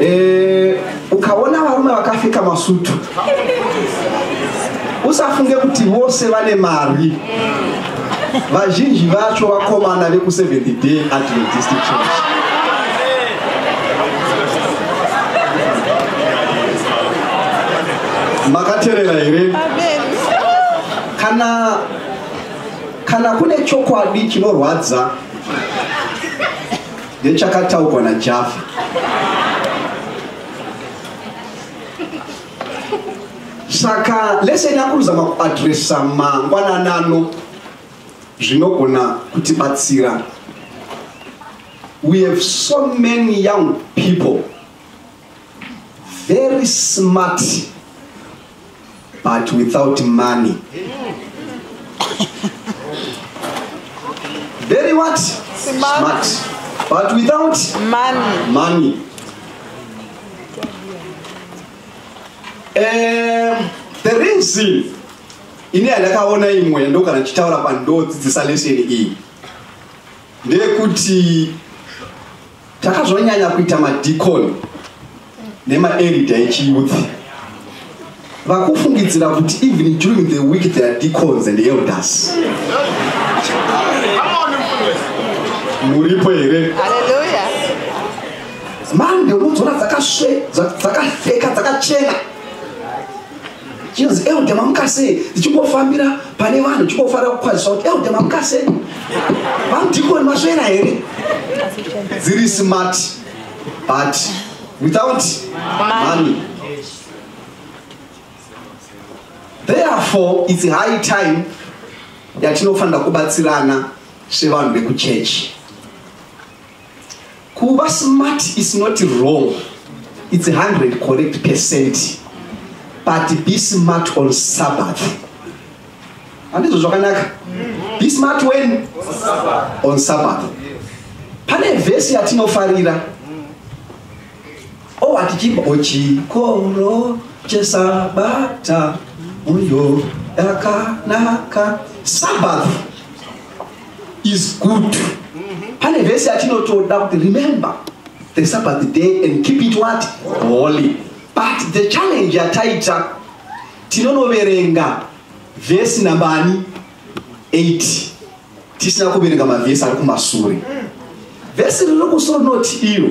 Eh, ukaona varume vakapfeka masutu usafunge kuti vose vane mari vazhinji vacho vakomana veku70 day adventist church makaterera here kana kana kune chokwadi chinorwadza Nechakataugwa na Jaffa. Saka lesson yakuruzama kuadressa mangwananano zvinogona kutibatsira. We have so many young people very smart but without money very what smart, smart. but without money, money. Um, the reason ini yandakaona imwe ndogara ndichitaura pandodzidzisa leseni iyi ndeyekuti takazonyanya kuita madikoni nemaerida echiyuthi vakufungidzira kuti even during the week they are decons and elders muripo here mande unodzona dzakasve dzakapfeka dzakachena chinonzi elder mamukasei ndichingofambira pane vanhu ndichingofara kukwazisa kuti elder mamukasei vamudhikoni masvera here dziri smart but without money therefore its high time yatinofanira kubatsirana sevanhu vekuchechi kuva smart is not wrong its 100 correct percent but be smart on sabbath handizvo zvakanaka be smart when on sabbath pane vhesi yatinofarira o oh, watichimba ochikoro oh, chesabata uyo yakanaka sabbath is good mm-hmm. pane vhesi yatinotoda kuti remember the sabbath day and keep it what holy but the challenge yataita tinonoverenga vhesi nambani 8 tisina kuverenga mavhesi ari kumasure vhesi riri kusoro noti iyo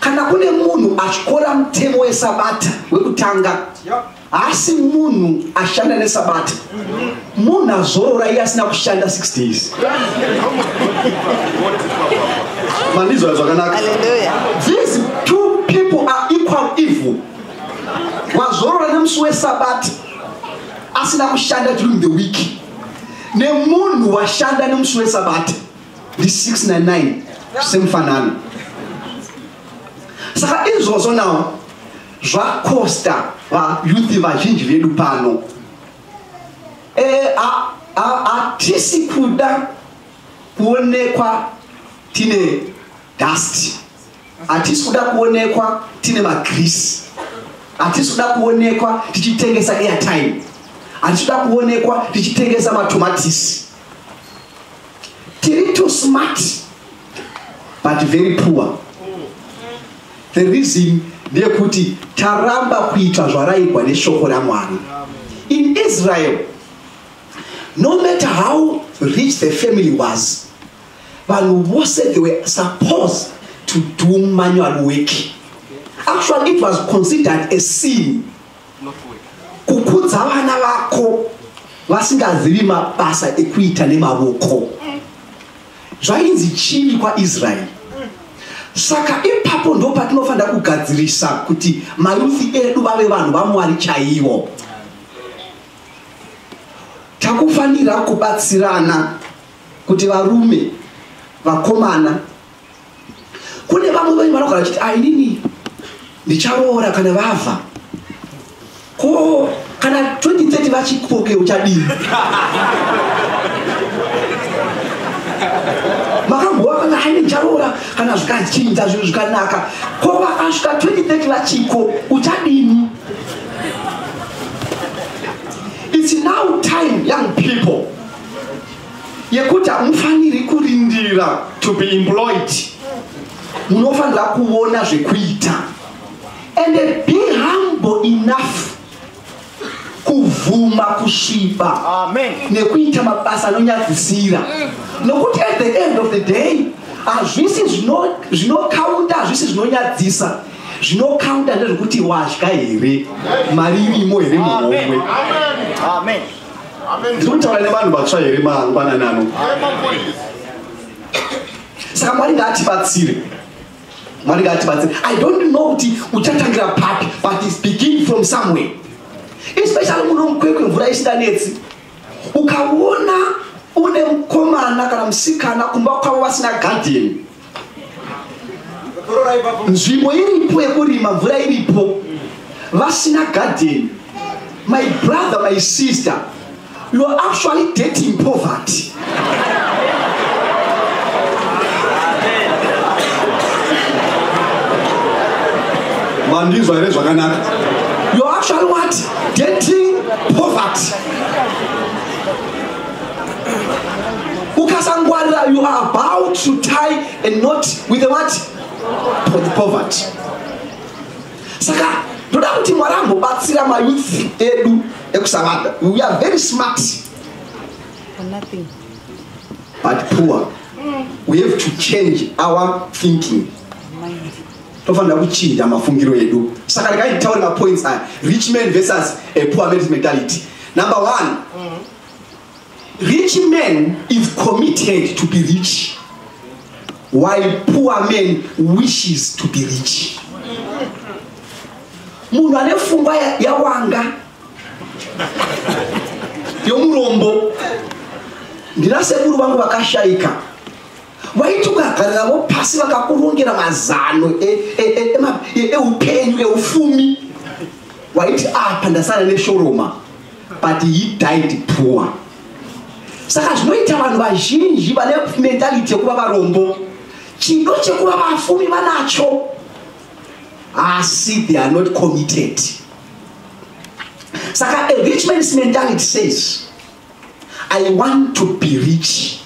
kana kune munhu atyora mutemo wesabata wekutanga haasi munhu ashanda nesabata munhu azorora iye asina kushanda 6 days mandizwa zvakanaka these two people are equal evil wazorora nemusi wesabata asina kushanda during the week nemunhu washanda nemusi wesabata ndi 699 semufanano saka izvozvo nawo zvakosta vayuthi vazhinji vedu pano eh, hatisi kuda kuonekwa tine dust hatisi kuda kuonekwa tine magrisi hatisi kuda kuonekwa tichitengesa airtime hatisi kuda kuonekwa tichitengesa matomatisi tiri too smart but very poor the reason ndeyekuti taramba kuita zvaraigwa neshoko ramwari in israel no matter how rich the family was vanhu vose they were supposed to do manual work actually it was considered a sin kukudza vana vako vasingazivi mabasa ekuita nemavoko zvainzi chini kwaisraeri saka ipapo ndo patinofanira kugadzirisa kuti mayuthi edu vave vanhu vamwari chaivo takufanira kubatsirana kuti varume vakomana kune vamwe venyu vanogara vachiti ainini ndicharoora kana vavha ko kana 2030 vachikoke uchadii makamboa kana aine ndicharoora kana zvikachinja zvinhu zvikanaka ko vakasvika 2030 vachiko uchadini it's now time young people yekuti hamufaniri kurindira to be employed munofanira kuona zvekuita and be humble enough kuvhuma kusviba nekuita mabasa anonyadzisira nokuti at the end of the day hazvisi zvinokaunda hazvisi zvinonyadzisa zvinokaunda ndezvekuti wadya here mari irimo here muhomwe ndiri kutaura nevanhu vatsva here mangwanani ano saka mwari ngaatibatsire mwari ngaatibatsire i don't know kuti uchatangira papi but is begin from somewhere especially muno mukwekwe mvura isinganetsi ukaona une mukomana kana musikana kumba kwavo vasina gadheni nzvimbo iripo yekurima mvura iripo vasina garden my brother my sister you're actually dating poverty mandinzwa here zvakanaka you're actually what dating poverty ukasangwarira you are about to tie a not with the what with poverty saka ndoda kuti mwari ambobatsira mayouth edu ekusavada we are very smart but poor we have to change our thinking tofanira kuchinja mafungiro edu saka rekai nditaure mapoints aya rich man versus a poor man's mentality number one mm -hmm. Rich man is committed to be rich while poor man wishes to be rich. Munhu ane fungwa yawanga yomurombo ndina sekuru vangu vakashaika waiti ukagarira vo pasi vakakurongera mazano eupenyu e, e, e, eufumi waiti apa ah, ndasara neshoroma but he died poor saka zvinoita vanhu vazhinji vane mentality yekuva varombo chido chekuva vafumi vanacho asi they are not committed saka a rich man's mentality says i want to be rich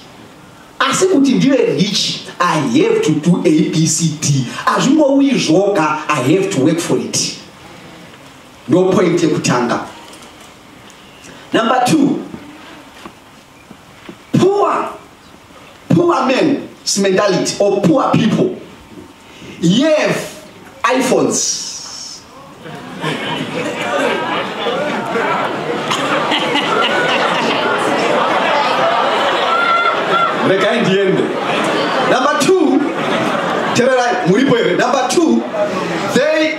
asi kuti ndive rich i have to do abcd hazvingouyi zvoga i have to work for it ndo point yekutanga number two poor poor men mentality or poor people yev iphones regai ndiende number two tererai muripo here number two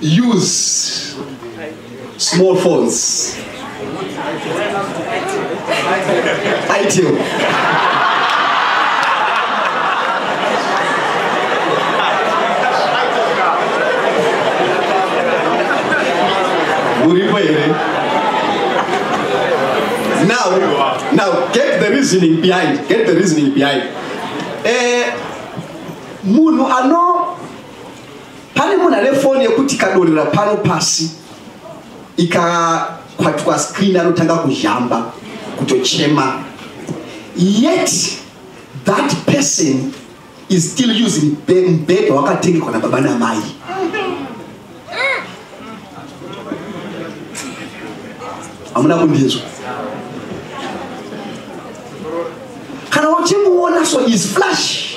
use small phones itel uripo here now now get the reasoning behind get the reasoning behind eh, munhu ano pane munhu ane foni yekuti ikadonhera pano pasi ikakwatwa screen anotanga kuzhamba kutochema yet that person is still using mbhedha wakatengekwa nababa namai hamuna kundinzwa kana uchimuona so is flash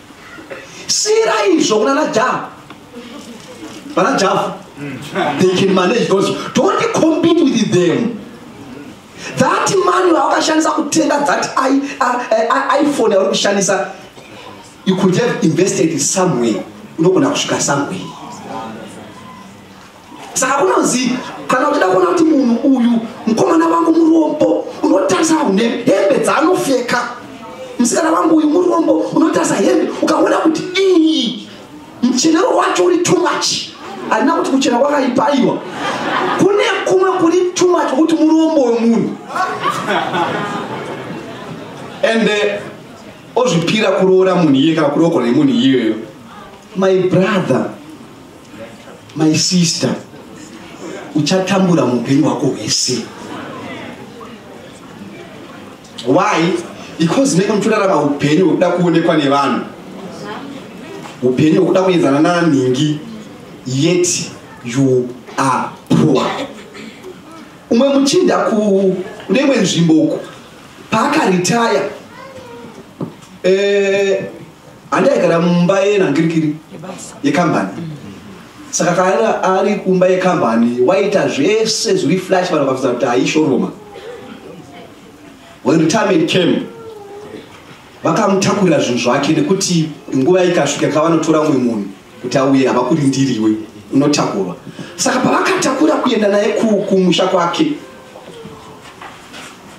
siyira izvo kunana java vana java they can manage those don't compete with them that money waakashandisa kutenga that iphone yauri kushandisa you could have invested somewhere unogona kusvika somewhere saka kunonzi kana uchida kuona kuti munhu uyu mukomana vangu murombo unotarisa une hembe dzaanofeka musikana vangu uyu murombo unotarisa hembe ukaona kuti iyi muchenero wacho uri too much handina kuti kuchena kwakaipa aiwa kune kumwe kuri too much kuti murombo wemunhu ende eh, ozvipira kuroora munhu iye kana kurokora nemunhu iyeyo my brother my sister uchatambura mupenyu wako hwese why because menge muchirarama upenyu hwekuda kuonekwa nevanhu upenyu hwekuda kuenzana nanhingi yet you are poor umwe muchinda kuneimwe nzvimbo uku paakaritaya eh, handi aigara mumba yenhangirikiri yekambani saka kana ari kumba yekambani waita zvese zviri flash vanhu vakafudza kuti aishoroma when retirement came vakamutakurira zvinhu zvake nekuti nguva ikasvika kavanotora umwe munhu kuti auye havakurindiriwe unotakurwa saka pavakatakura kuenda naye kumusha kwake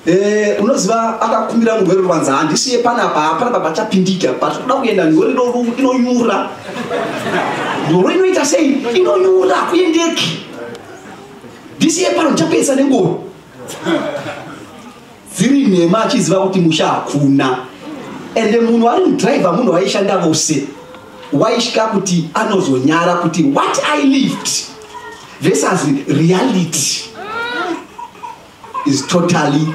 Eh, unoziva akakumbira murwere ruvanza handisiye panapa hapana pabachapindika but kuda kuenda ndori inonyura ndoro inoita sei inonyura kuendeki ndisiye pano ndichapedza nengoro dziri nhema achiziva kuti musha hakuna ende munhu ari mudriver munhu waishanda vose waisvika kuti anozonyara kuti what i lived versus reality is totally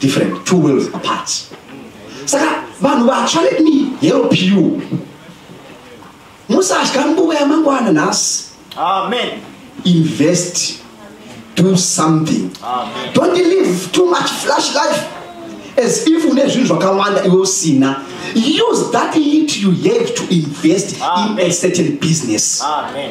different two worlds apart saka vanhu vatsva let me help you musatya nguva yamangwana nhasi amen invest do something amen. don't live too much flash life as if une zvinhu zvakawanda iwe usina use that lit you have to invest amen. in a certain business amen.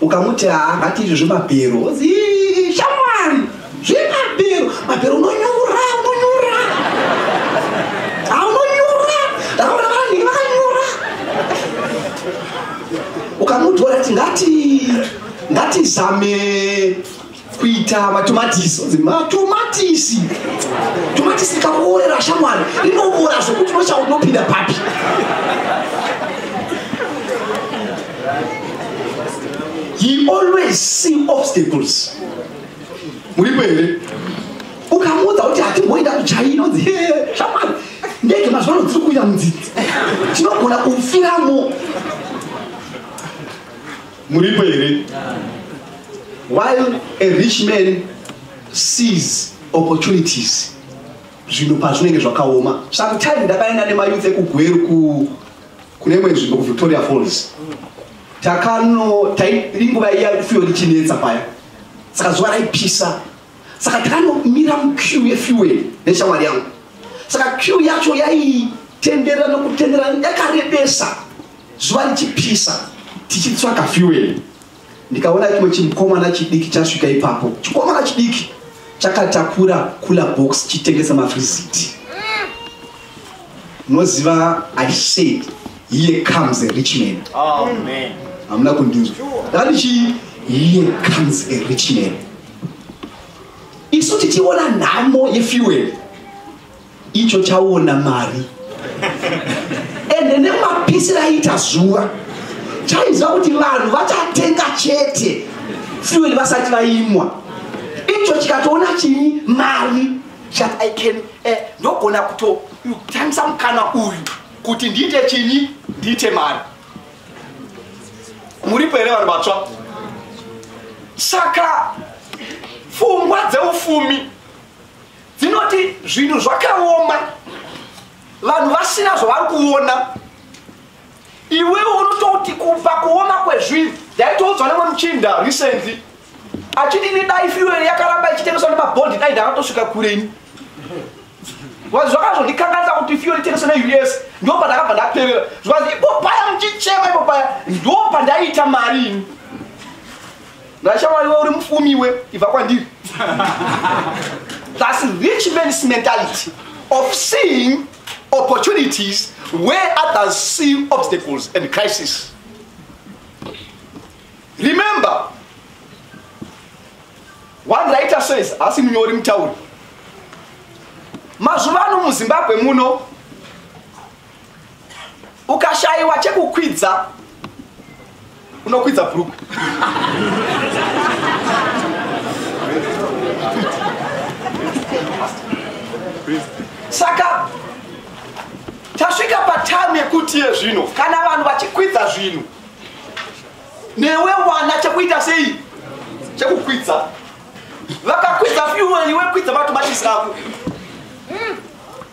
ukamuti haa ngati izvi zvemabhero shamwari zvemabhero mabhero unonyura unonyura haa unonyura ndakaona vanhu vakanyura ukamuti warati ngati ngatizame kuita matomatisi onzi matomatisi tomatisi rikaorera shamwari rinoora zvokuti nochau unopinda papi he always see obstacles muripo here ukamuudza kuti hatimboenda kuchaina onzi shamwari ndege mazuva ano dziri kuuya mudzidzi tinogona kufiramo muripo here while a rich man sees opportunities zvinhu pazvinenge zvakaoma sometime ndakaenda nemayouth ekugweru ku kune imwe nzvimbo kuvictoria falls takano inguva iya fuel ichinetsa paya saka zuva raipisa saka takanomira muqueue yefuel neshamwari yangu saka queue yacho yaitenderera nokutenderera yakarebesa zuva richipisa tichitsvaga fuel ndikaona chimwe chimukomana chidiki chasvika ipapo chikomana chidiki chakatakura kula box chitengesa mafriziti munoziva i said here comes a rich man hamuna kundinzwa ndatichii here comes a rich man isu tichiona nhamo yefuel icho chaona mari ende nemapisi raita zuva chaiziva kuti vanhu vachatenga chete fuel vasati vaimwa icho chikatoona chii mari chat i can eh, ndogona kutotambisa mukana uyu kuti ndiite chinyi ndiite mari muripo here vanhu vatsva saka pfungwa dzeufumi dzinoti zvinhu zvakaoma vanhu vasina zvavari kuona iwewe unototi kubva kuoma kwezvinhu ndaitoudzwa nemwe muchinda recently achiti ini dai fuel yakaramba ichitengeswa nemabond dai ndakatosvika kure ini bcause zvakazondikanganisa kuti fuel itengese neus ndo pandakabva ndaperera zvikazi ipo paya muchichema ipo paya ndo pandaiita mari ini Nashawa iwe uri mufumi iwe ibva kwandiri. That's rich man's mentality of seeing opportunities where others see obstacles and crisis. Remember, one writer says, asi munyori mutauri, mazuva ano muzimbabwe muno ukashaiwa chekukwidza unokwidza bhurukwe saka tasvika patamu yekuti ye zvino kana vanhu vachikwidza zvinhu newe wana chekuita sei chekukwidza vakakwidza fyuwani wekwidza vatobatisa ako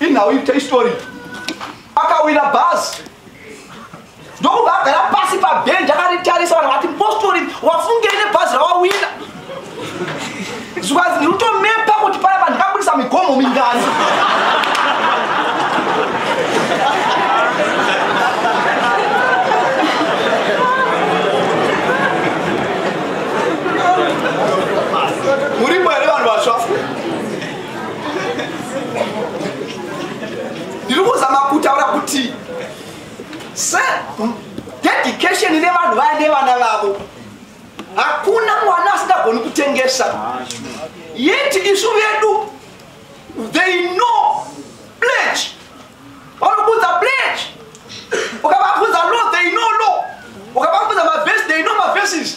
inhau ita istori akawira bhazi ndokubva agara pasi pabhenji akaritarisa vanhu vati mpostori wafungei nebhazi rawawina zvikanzi ndiri kutomepa kuti paya pandikabudisa migomo mingani ndiri kuzama kutaura kuti se dedication ine vanhu vaya nevana vavo hakuna mwana asingagoni kutengesa yet isu vedu they know pledge vanobudza pledge ukavabudza law they know law ukavabudza mavesi they know mavesis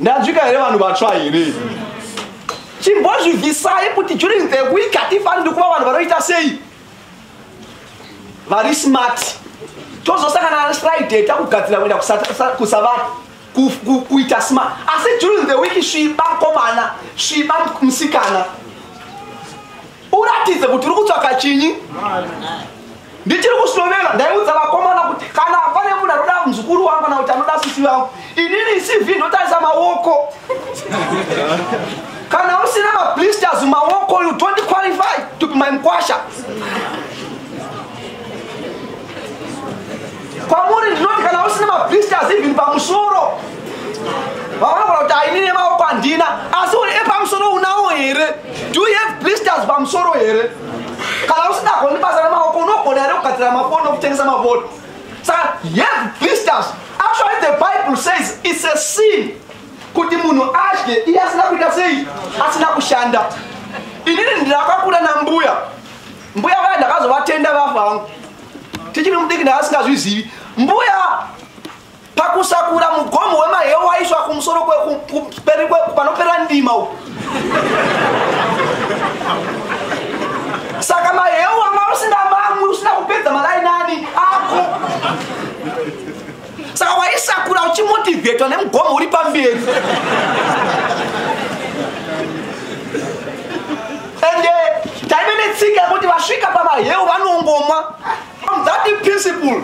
ndanzwika here vanhu vatsva here chimbozvibvisai kuti during the week hatifaniri kuva vanhu vanoita sei vari smart tozosangana nefriday takugadzira kuenda kusavana kuita smart asi during the week sviba komana sviba musikana uratidze kuti uri kutsvaka chinyi ndichiri kushovela ndaiudza vakomana kuti kana pane munhu anoda muzukuru wangu kana kuti anoda sisi vangu inini cv ndotarisa maoko kana usina mablisters maoko you don't qualify to be my mkwasha kwamuri ndinoti kana usina mablisters even pamusoro vaonagona kuti ainine maoko handina asi uri epamusoro unawo here do you have blisters pamusoro here kana usidagoni basa remaoko unogona here kugadzira mafoni okutengesa mafoni saka you have blisters actually the bible says it's a sin kuti munhu adye iye asina kuita sei asina kushanda inini ndirakakura nambuya mbuya vaya ndakazovatenda vafa vangu tichiri mudiki ndaasingazvizivi mbuya pakusakura mugomo wemahewu waiswa kumusoro panopera ndima u saka mahewu anga usina mamwe usina kupedza malainani ako saka waisakura uchimotivetwa nemugomo uri pamberi ende taive netsika yekuti vasvika pamaheu vanongomwa from that principle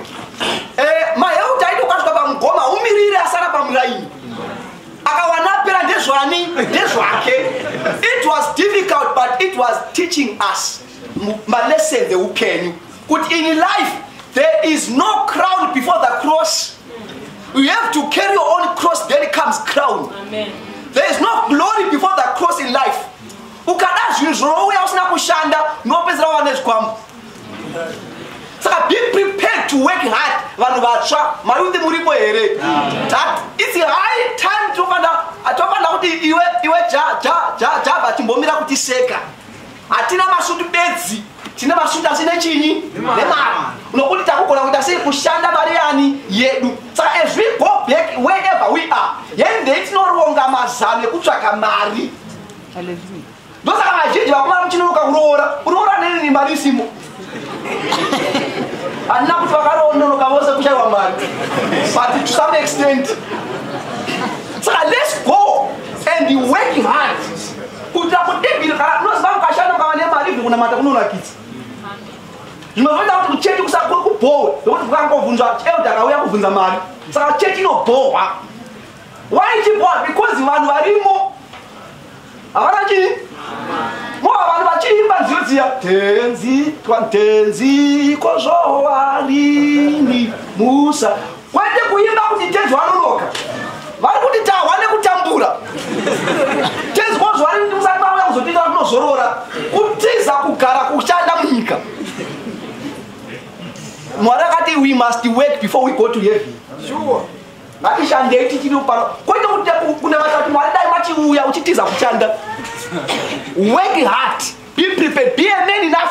eh, maheu taitokasvika pamugoma umirire asara pamuraini akawana apera ndezvani ndezvake it was difficult but it was teaching us malessons eupenyu kuti in life there is no crown before the cross you have to carry your own cross then it comes crown Amen. there is no glory before the cross in life ukada zvinhu zvinouya usina kushanda unopedzera wane zvikwambo saka be prepared to work hard vanhu vatsva mayuthi muripo here that its high time tofanira kuti iwe java chimbomira kutiseka hatina masvutu bedzi tine masvutu asi nechinyi nemari nokuti takugona kuita sei kushanda mari yani yedu saka as we go back wherever we are yendei tinoronga mazano ekutsvaka mari ndosaka vazhinji vakomana muchinonoka kuroora kuroora nenini mari isimo handina kuti vakaroonoroka vose kushaiwa mari but to some extent saka let's go and be working hard kuitira kutibiri kana unoziva kukashanda mukava nemari ivi kunamata kunonakidza zvinozoita kuti kuchechi kusakuri kubhohwe nokuti kukangovhunzwa elda akauya kubvunza mari saka chechi inobhohwa why ichibhohwa because vanhu varimo havana chii moa vanhu vachiimba nziyo dziya tenzi twatenzi kozvowarini musa kwete kuimba kuti tenzi wanoroka vari kuti tahwa nekutambura tenzi kozvowarini musati vauya kuzotiita vatinozorora kutiza kugara kushanda munyika mwari akati we must work before we go to heaven sure. ngatishandei tichiri pano kwete kuti kunamata kuti mwari dai machiuya uchitiza kushanda work hard be prepared be a man enough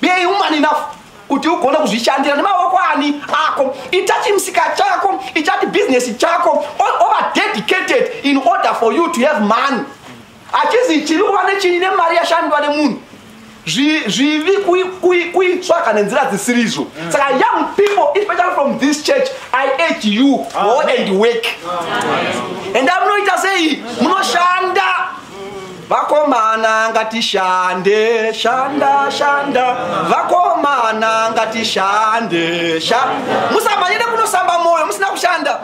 be a woman enough kuti ugone kuzvishandira nemaoko ani ako ita chimusika chako ichati bhizinesi chako over dedicated in order for you to have money hatizi chiri kuva nechinyi nemari yashandwa nemunhu zvivi kuitsvaka nenzira dzisiri izvo mm. saka young people especially from this church i age you go and work enda munoita sei munoshanda vakomana ngatishande shanda shanda vakomana ngatishande musabanyire kunosamba moyo musina kushanda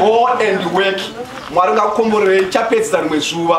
go and work mwari ngakukomborerei chapedzisa rimwe zuva